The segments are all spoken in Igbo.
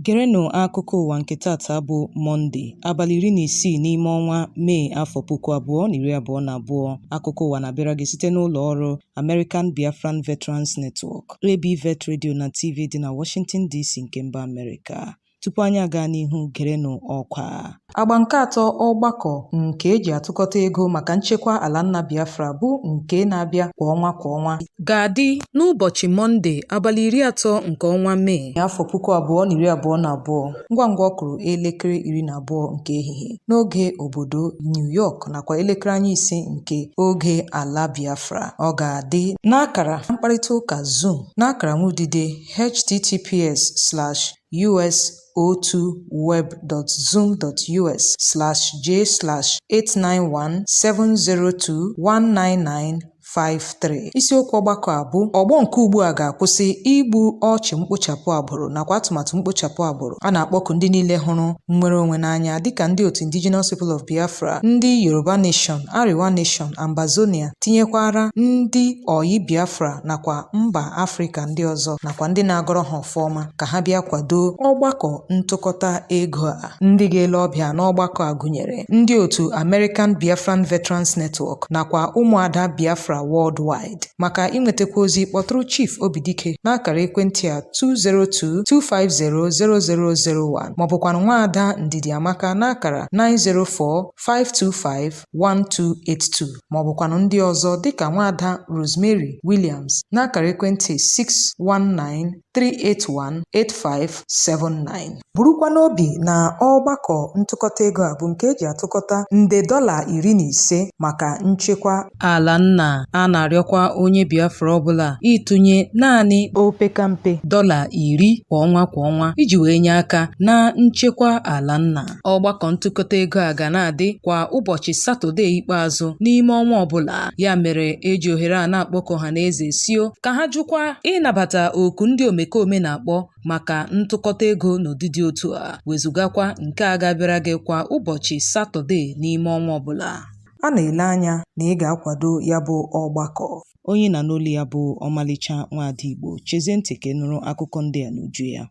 Gerenụ akụkọ ụwa nke taata bụ Mọnde, abalị iri na isii n'ime ọnwa Mee afọ puku abụọ na iri abụọ na abụọ. Akụkọ ụwa na-abịara gị site n'ụlọ ọrụ American Biafran Veterans Network, ABVET Radio na TV dị na Washington DC nke mba Amerịka. Tupu anyị agaa n'ihu, gerenụ ọkwa. Agba nke atọ ọgbakọ nke eji atụkọta ego maka nchekwa ala nna Biafra bụ nke na-abịa kwa ọnwa kwa ọnwa ga-adị n'ụbọchị Mọnde abalị iri atọ nke ọnwa Mee afọ puku abụọ na iri abụọ na abụọ ngwa ngwa ọ kụrụ elekere iri na abụọ nke ehihie n'oge obodo New York nakwa elekere anya ise nke oge ala Biafra ọ ga-adị n'akara mkparịta ụka Zoom n'akara nwudide https us02web.zoom.us/j/891702199 53 isiokwu ọgbakọ a bụ ọgbọ nke ugbu a ga-akwụsị igbu ọchụ mkpochapụ agbụrụ nakwa atụmatụ mkpochapụ agbụrụ a na-akpọku ndị niile hụrụ nnwere onwe n'anya dịka ndị otu indigenous people of biafra ndị yoruba nation arewa nation ambazonia tinyekwara ndị ọyị biafra nakwa mba afrịka ndị ọzọ nakwa ndị na-agọrọ ha ọma ka ha bịa kwado ọgbakọ ntụkọta ego a. Ndị ga-ele ọbịa n'ọgbakọ a gụnyere ndị otu American Biafran Veterans Network nakwa ụmụada Biafra worldwide. Maka inwetakwu ozi kpọtụrụ Chief Obidike n'akara ekwentị a 202-250-0001 maọbụkwanụ nwaada Ndidiamaka n'akara 904-525 1282 ma ọ bụkwanụ ndị ọzọ dịka nwaada Rosemary Williams n'akara ekwentị 619-381-8579 burukwa n'obi na ọgbakọ ntụkọta ego a bụ nke eji atụkọta nde dọla iri na ise maka nchekwa ala nna a na-arịọkwa onye Biafra ọbụla ịtụnye naanị opekampe dọla iri kwa ọnwa kwa ọnwa iji wee nye aka na nchekwa ala nna Ọgbakọ ntụkọta ego a ga na-adị kwa ụbọchị Satọdee ikpeazụ n'ime ọnwa ọbụla. Ya mere eji ohere a na-akpọku ọhaneze sio ka ha jụkwa ịnabata oku ndị omekome na-akpọ maka ntụkọta ego n'ụdị dị otu a, wezugakwa nke a ga-abịara gị kwa ụbọchị Satọdee n'ime ọnwa ọbụla. A na-ele anya na ị ga-akwado ya bụ ọgbakọ. Onye ị na-anụ olu ya bụ Ọmalịcha Nwaada Igbo. Chezie ntị ka ị nụrụ akụkọ ndị a n'uju ya.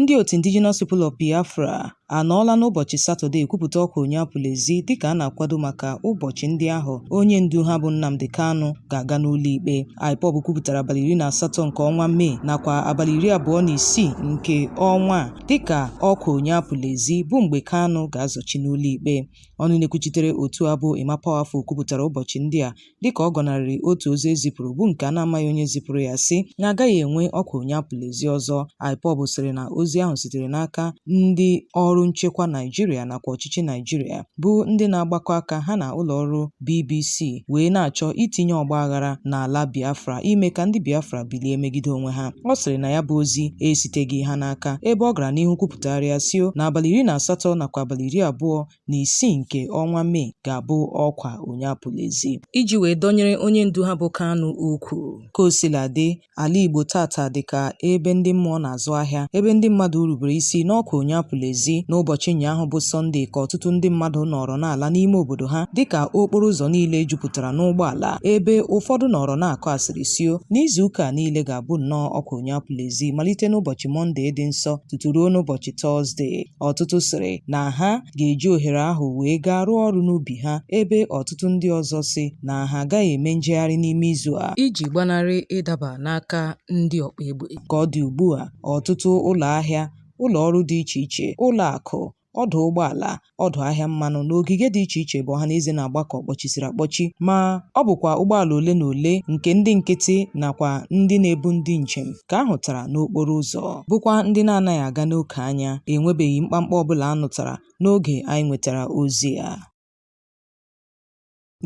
Ndị otu Indigenous People of Biafra anọọla n'ụbọchị Satọde kwupụta ọkwa onye apụla ezi dịka a na-akwado maka ụbọchị ndị ahụ onye ndu ha bụ Nnamdi Kanu ga-aga n'ụlọikpe. IPOB kwupụtara abalị iri na asatọ nke ọnwa Mee nakwa abalị iri abụọ na isii nke ọnwa a dịka ọkwa onye apụla ezi bụ mgbe Kanu ga-azọchi n'ụlọikpe. Ọnụ na-ekwuchitere otu a bụ Emma Powerful kwupụtara ụbọchị ndị a dịka ọ gọnarịrị otu ozi e zipụrụ bụ nke a na-amaghị onye zipụrụ ya sị na agaghị enwe ọkwa onye apụla ezi ọzọ IPOB sịrị na ozi ahụ sitere n'aka ndị ọrụ nchekwa Naijiria nakwa ọchịchị Naijiria bụ ndị na-agbakọ aka ha na ụlọ ọrụ BBC wee na-achọ itinye ọgba aghara n'ala Biafra ime ka ndị Biafra bilie megide onwe ha ọ sịrị na ya bụ ozi esiteghị ha n'aka ebe ọ gara n'ihu kwupụtagharịa sio na abalị iri na asatọ nakwa abalị iri abụọ na isii nke ọnwa Mee ga-abụ ọkwa onye apụla ezi iji wee dọnyere onye ndu ha bụ Kanu ukwu. Ka o sila dị, ala Igbo taata dị ka ebe ndị mmụọ na-azụ ahịa, ebe ndị mmadụ rubere isi n'ọkwa onye apụla ezi. N'ụbọchị ụnyaahụ bụ Sọnde ka ọtụtụ ndị mmadụ nọrọ na-ala n'ime obodo ha dịka okporo ụzọ niile jupụtara n'ụgbọala, ebe ụfọdụ nọrọ na-akọ asịrị sio na izu ụka a niile ga-abụ nnọọ ọkwa onye apụla ezi malite n'ụbọchị Mọnde dị nsọ tutu ruo n'ụbọchị Tọzde. Ọtụtụ sịrị na ha ga-eji ohere ahụ wee gaa rụọ ọrụ n'ubi ha ebe ọtụtụ ndị ọzọ sị na ha agaghị eme njegharị n'ime izu a iji gbanarị ịdaba n'aka ndị ọkpa egbe. Ka ọ dị ugbu a, ọtụtụ ụlọ ahịa, ụlọ ọrụ dị iche iche, ụlọ akụ, ọdụ ụgbọala, ọdụ ahịa mmanụ na ogige dị iche iche bụ ọhaneze na-agbakọ kpọchisiri akpọchi ma ọ bụkwa ụgbọala ole na ole nke ndị nkịtị nakwa ndị na-ebu ndị njem ka a hụtara n'okporo ụzọ bụkwa ndị na-anaghị aga n'oke anya enwebeghị mkpamkpa ọbụla a nụtara n'oge anyị nwetara ozi a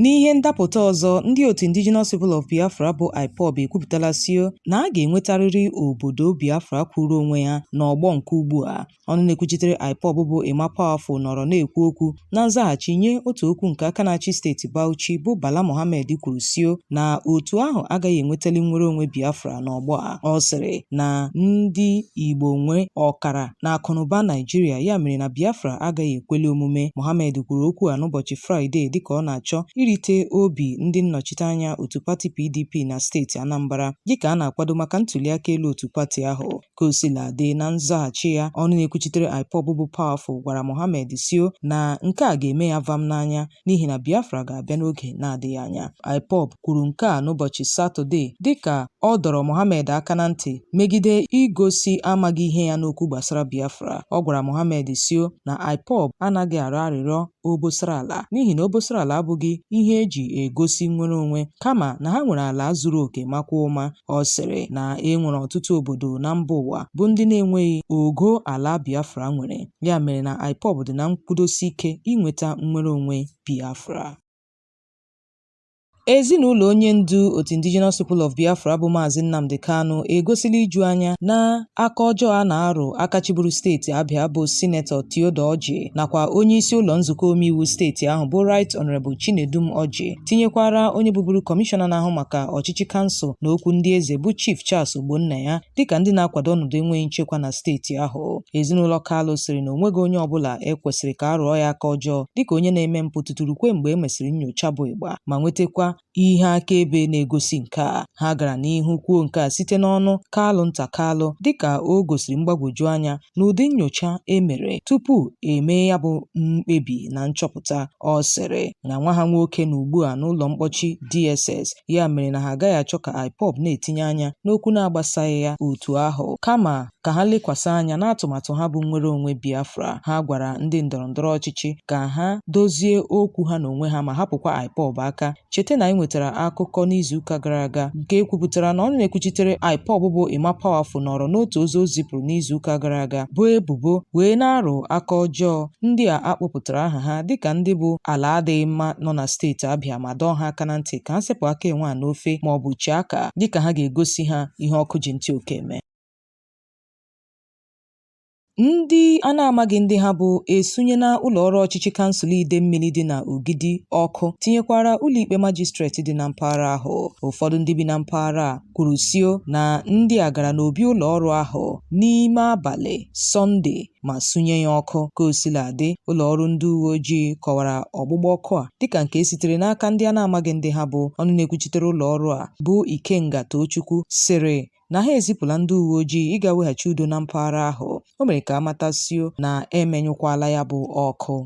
N'ihe ndapụta ọzọ, ndị otu Indigenous People of Biafra bụ IPOB ekwupụtala sio na a ga-enwetarịrị obodo Biafra kwụụrụ onwe ya n'ọgbọ nke ugbu a Ọnụ na-ekwuchitere IPOB bụ Emma Powerful nọrọ na-ekwu okwu na nzaghachi nye otu okwu nke aka na-achị steeti Bauchi bụ Bala Mohammed kwuru sio na otu ahụ agaghị enwetali nnwere onwe Biafra n'ọgbọ a. Ọ sịrị na ndị Igbo nwe ọkara n'akụnụba Naijiria ya mere na Biafra agaghị ekweli omume. Mohammed kwuru okwu a n'ụbọchị Fraịde dịka ọ na-achọ irite obi ndị nnọchiteanya otu pati PDP na steeti Anambra dịka a na-akwado maka ntuliaka elu otu pati ahụ. Ka o sila dị, na nzaghachi ya, ọnụ na-ekwuchitere IPOB bụ Powerful gwara Mohammed sio na nke a ga-eme ya vam n'anya n'ihi na Biafra ga-abịa n'oge na-adịghị anya. IPOB kwuru nke a n'ụbọchị Satọde dịka ọ dọrọ Mohammed aka na ntị megide igosi amaghị ihe ya n'okwu gbasara Biafra. Ọ gwara Mohammed sio na IPOB anaghị arịọ arịrịọ obosara ala n'ihi na obosara ala abụghị ihe eji egosi nnwere onwe kama na ha nwere ala zuru oke makwa mma ọ sịrị na e nwere ọtụtụ obodo na mba ụwa bụ ndị na-enweghị ogo ala Biafra nwere ya mere na IPOB dị na nkwudosi ike inweta nnwere onwe Biafra Ezinụlọ onye ndu otu Indigenous People of Biafra bụ Maazị Nnamdi Kanu egosila iju anya na aka ọjọọ a na-arụ aka chịburu steeti Abịa bụ Sinetọ Theodore Orji nakwa onye isi ụlọ nzukọ omeiwu steeti ahụ bụ Right Honourable Chinedum Orji tinyekwara onye bụburu kọmishọna na-ahụ maka ọchịchị kansụl na okwu ndị eze bụ Chief Charles Ogbonnaya dịka ndị na-akwado ọnọdụ enweghị nchekwa na steeti ahụ. Ezinụlọ Kalu sịrị na onweghị onye ọbụla e kwesịrị ka a rụọ ya aka ọjọọ dịka onye na-eme mpụ tutu rukwe mgbe e mesịrị nyocha bụ ịgba ma nwetakwa ihe akaebe na-egosi nke a. Ha gara n'ihu kwuo nke a site n'ọnụ Kalu nta Kalu dịka o gosiri mgbagwoju anya n'ụdị nyocha e mere tupu e mee ya bụ mkpebi na nchọpụta. Ọ sịrị na nwa ha nwoke nọ ugbu a n'ụlọ mkpọchi DSS ya mere na ha agaghị achọ ka IPOB na-etinye anya n'okwu na-agbasaghị ya otu ahụ kama ka ha lekwasị anya n'atụmatụ ha bụ nnwere onwe Biafra. Ha gwara ndị ndọrọndọrọ ọchịchị ka ha dozie okwu ha n'onwe ha ma hapụkwa IPOB aka. Cheta na anyị nwetara akụkọ n'izuụka gara aga nke e kwupụtara na ọnụ na-ekwuchitere IPOB bụ Emma Powerful nọrọ n'otu ozi o zipụrụ n'izuụka gara aga boo ebubo wee na-arụ aka ọjọọ ndị a a kpọpụtara aha ha dịka ndị bụ ala adịghị mma nọ na steeti Abịa ma dọọ ha aka na ntị ka ha sepụ aka enwe a n'ofe maọbụ chee aka dịka ha ga-egosi ha ihe ọkụ ji ntị oke eme. Ndị a na-amaghị ndị ha bụ esunyela ụlọọrụ ọchịchị kansụl Idemmili dị na Ogidi ọkụ tinyekwara ụlọikpe majistreti dị na mpaghara ahụ. Ụfọdụ ndị bi na mpaghara a kwuru sio na ndị a gara n'obi ụlọọrụ ahụ n'ime abalị Sọnde ma sunye ya ọkụ. Ka o sila dị, ụlọọrụ ndị uwe ojii kọwara ọgbụgba ọkụ a dịka nke sitere n'aka ndị a na-amaghị ndị ha bụ. Ọnụ na-ekwuchitere ụlọọrụ a bụ Ikenga Tochukwu sịrị na ha ezipụla ndị uwe ojii ịga weghachi udo na mpaghara ahụ o mere ka a mata sio na emenyụkwala ya bụ ọkụ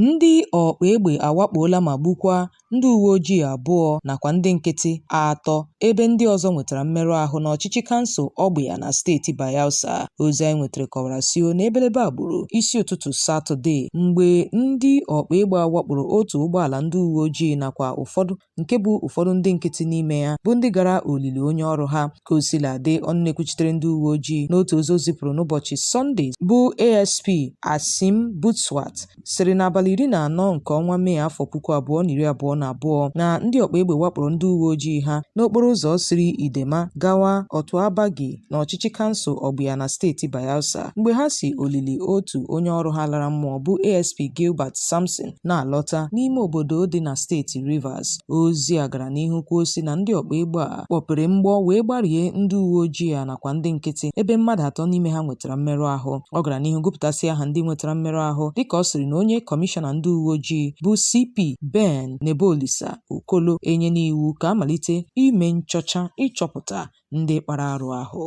ndị ọkpa egbe awakpoola ma gbukwa ndị uwe ojii abụọ nakwa ndị nkịtị atọ ebe ndị ọzọ nwetara mmerụ ahụ n'ọchịchị kansụl Ọgbịa na steeti Bayelsa. Ozi anyị nwetara kọwara sio na ebelebe a gburu isi ụtụtụ Satọde mgbe ndị ọkpa egbe a wakporo otu ụgbọala ndị uwe ojii nakwa ụfọdụ nke bu ụfọdụ ndị nkịtị n'ime ya bụ ndị gara olili onye ọrụ ha ka o sila dị ọnụ na-ekwuchitere ndị uwe ojii n'otu ozi o zipụrụ n'ụbọchị sọnde bụ asp asim butswat sịrị n'abalị iri na anọ nke ọnwa mee afọ puku abụọ na iri abụọ na abụọ na ndị ọkpa egbe wakporo ndị uwe ojii ha n'okporo ụzọ siri idema gawa otuabagi na ọchịchị kansụl ọgbịa na steeti bayelsa mgbe ha si olili otu onye ọrụ ha lara mmụọ bụ asp gilbert samson na-alọta n'ime obodo dị na steeti Rivers ozi a gara n'ihu kwuo sị na ndị ọkpa egbe a kpọpere mgbọ wee gbarie ndị uwe ojii a nakwa ndị nkịtị ebe mmadụ atọ n'ime ha nwetara mmerụ ahụ ọ gara n'ihu gụpụtasị aha ndị nwetara mmerụ ahụ dịka ọ sịrị na onye kọmishọna ndị uwe ojii bụ CP Ben Nebolisa Okolo enyena iwu ka a malite ime nchọcha ịchọpụta ndị kpara arụ ahụ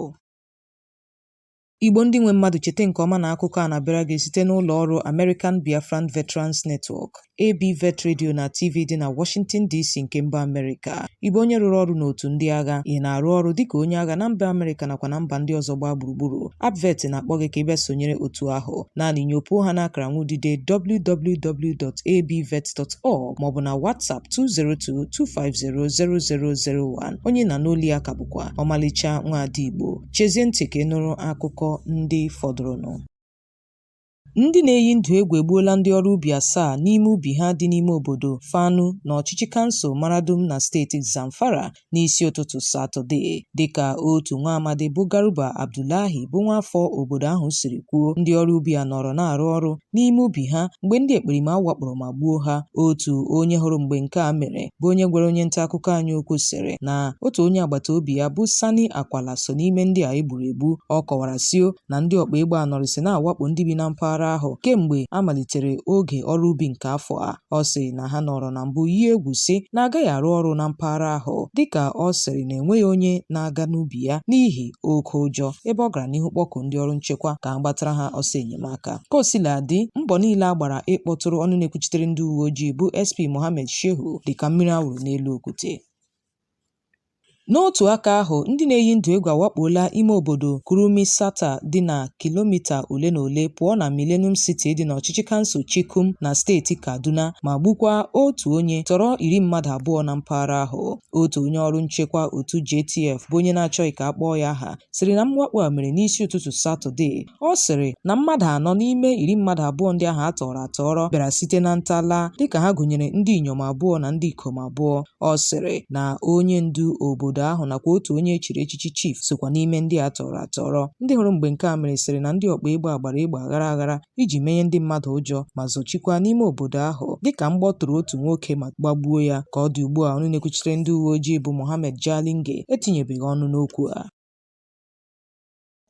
Igbo ndị nwe mmadụ cheta nke ọma na akụkọ a na-abịara gị site n'ụlọ ọrụ American Biafran Veterans Network, ABVET Radio na TV dị na Washington DC nke mba Amerịka. Ị bụ onye rụrụ ọrụ n'otu ndị agha, ị na-arụ ọrụ dịka onye agha na mba Amerịka nakwa na mba ndị ọzọ gbaa gburugburu. ABVET na-akpọ gị ka ị bịa sonyere otu ahụ. Naanị nyopuo ha n'akara nwudide www.abvet.org maọbụ na WhatsApp 202-250-0001. Onye na n'oli ya ka bụkwa ọmalịcha nwaada Igbo. Chezie ntị ka ị nụrụ akụkọ ndị fọdụrụnụ. Ndị na-eyi ndụ egwu egbuola ndị ọrụ ubi asaa n'ime ubi ha dị n'ime obodo Fanu n'ọchịchị kansụl Maradum na steeti Zamfara n'isi ụtụtụ Satọde, dịka otu nwa amadi bụ Garuba Abdullahi bụ nwaafọ obodo ahụ siri kwuo. Ndị ọrụ ubi a nọrọ na-arụ ọrụ n'ime ubi ha mgbe ndị ekperima wakporo ma gbuo ha otu onye hụrụ mgbe nke a mere bụ onye gwara onye nta akụkọ anyị okwu sịrị na otu onye agbata obi ya bụ Sani Akwala so n'ime ndị a e gburu egbu ọ kọwara sio na ndị ọkpa egbe a nọrịsị na-awakpo ndị bi na mpaghara ahụ kemgbe a malitere oge ọrụ ubi nke afọ a Ọ sị na ha nọrọ na mbụ yie egwu sị na agaghị arụ ọrụ na mpaghara ahụ dịka ọ sịrị na enweghị onye na-aga n'ubi ya n'ihi oke ụjọ ebe ọ gara n'ihu kpọkuo ndị ọrụ nchekwa ka a gbatara ha ọsọ enyemaka. Ka o sila dị, mbọ niile a gbara ịkpọtụrụ ọnụ na-ekwuchitere ndị uwe ojii bụ SP Mohammed Shehu dịka mmiri a wụrụ n'elu okwute. N'otu aka ahụ, ndị na-eyi ndụ egwu awakpola ime obodo Kurmin Sata dị na kilomita ole na ole pụọ na Millennium City dị n'ọchịchị kansụl Chikum na steeti Kaduna ma gbukwaa otu onye, tọrọ iri mmadụ abụọ na mpaghara ahụ. Otu onye ọrụ nchekwa otu JTF bụ onye na-achọghị ka a kpọọ ya aha sịrị na mwakpo a mere n'isi ụtụtụ Satọde. Ọ sịrị na mmadụ anọ n'ime iri mmadụ abụọ ndị ahụ a tọrọ atọrọ bịara site na ntala dịka ha gụnyere ndị inyom abụọ na ndị ikom abụọ. Ọ sịrị na onye ndu obodo ahụ nakwa otu onye e chiri echichi chief sokwa n'ime ndị a tọrọ atọrọ. Ndị hụrụ mgbe nke a mere sịrị na ndị ọkpa egbe a gbara egbe aghara aghara iji menye ndị mmadụ ụjọ ma zọchikwa n'ime obodo ahụ dịka mgbọ tụrụ otu nwoke ma gbagbuo ya. Ka ọ dị ugbu a ọnụ na-ekwuchitere ndị uweojii bụ Mohammed Jalinge etinyebeghị ọnụ n'okwu a.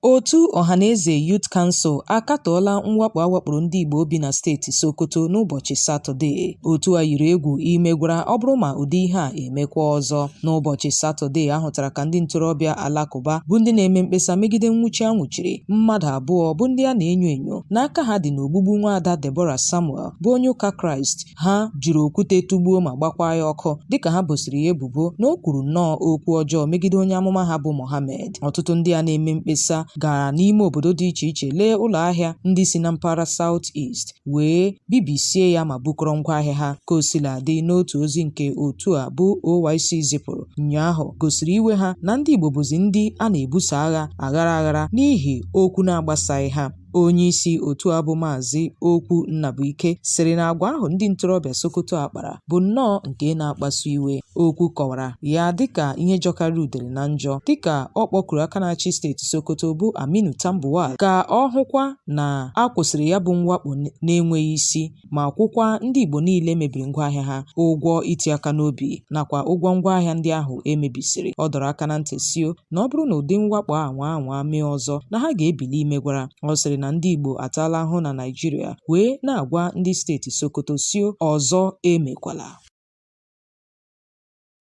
Otu Ọhaneze Youth Council akatọọla mwakpo a wakporo ndị Igbo bi na steeti Sokoto n'ụbọchị Satọde. Otu a yiri egwu imegwara ọ bụrụ ma ụdị ihe a emekwa ọzọ. N'ụbọchị Satọde a hụtara ka ndị ntorobịa Alakụba bụ ndị na-eme mkpesa megide nnwụchi a nwụchiri mmadụ abụọ bụ ndị a na-enyo enyo na aka ha dị n'ogbugbu nwaada Deborah Samuel bụ onye ụka Kraịst ha jiri okwute tụgbuo ma gbakwaa ya ọkụ dịka ha bosiri ya ebubo na o kwuru nnọọ okwu ọjọọ megide onye amụma ha bụ Mohammed. Ọtụtụ ndị a na-eme mkpesa gara n'ime obodo dị iche iche lee ụlọ ahịa ndị si na mpaghara South East wee bibisie ya ma bukọrọ ngwa ahịa ha. Ka o sila dị, n'otu ozi nke otu a bụ OYC zipụrụ ụnyaahụ gosiri iwe ha na ndị Igbo bụzi ndị a na-ebuso agha aghara aghara n'ihi okwu na-agbasaghị ha. Onyeisi otu a bụ Maazị Okwu Nnabuike sịrị na agwa ahụ ndị ntorobịa Sokoto a kpara bụ nnọọ nke na-akpasu iwe. Okwu kọwara ya dịka ihe jọkarịrị udele na njọ dịka ọ kpọkuru aka na-achị steeti Sokoto bụ Aminu Tambuwal ka ọ hụkwa na a kwụsịrị ya bụ mwakpo na-enweghị isi ma kwụkwa ndị Igbo niile e mebiri ngwaahịa ha ụgwọ iti aka n'obi nakwa ụgwọ ngwaahịa ndị ahụ e mebisiri ọ dọrọ aka na ntị sio na ọ bụrụ na ụdị mwakpo a nwaa anwa mee ọzọ na ha ga-ebili imegwara ọ sịrị na ndị Igbo ataala ahụ na Naịjirịa wee na-agwa ndị steeti Sokoto sio ọzọ emekwala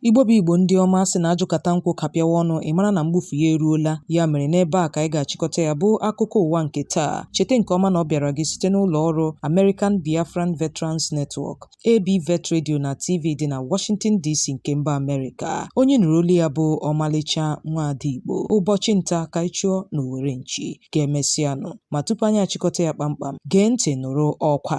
Igbo bụ Igbo ndị ọma sị na ajụkata nkwụ kapịawa ọnụ ị mara na mgbufu ya eruola ya mere n'ebe a ka anyị ga-achịkọta ya bụ akụkọ ụwa nke taa cheta nke ọma na ọ bịara gị site n'ụlọ ọrụ American Biafran Veterans Network AB Vet Radio na TV dị na Washington DC nke mba Amerịka onye ị nụrụ olu ya bụ ọmalịcha nwaada Igbo ụbọchị nta ka anyị chụọ na owere nchi ka emesịanụ ma tupu anyị achịkọta ya kpamkpam gee ntị nụrụ ọkwa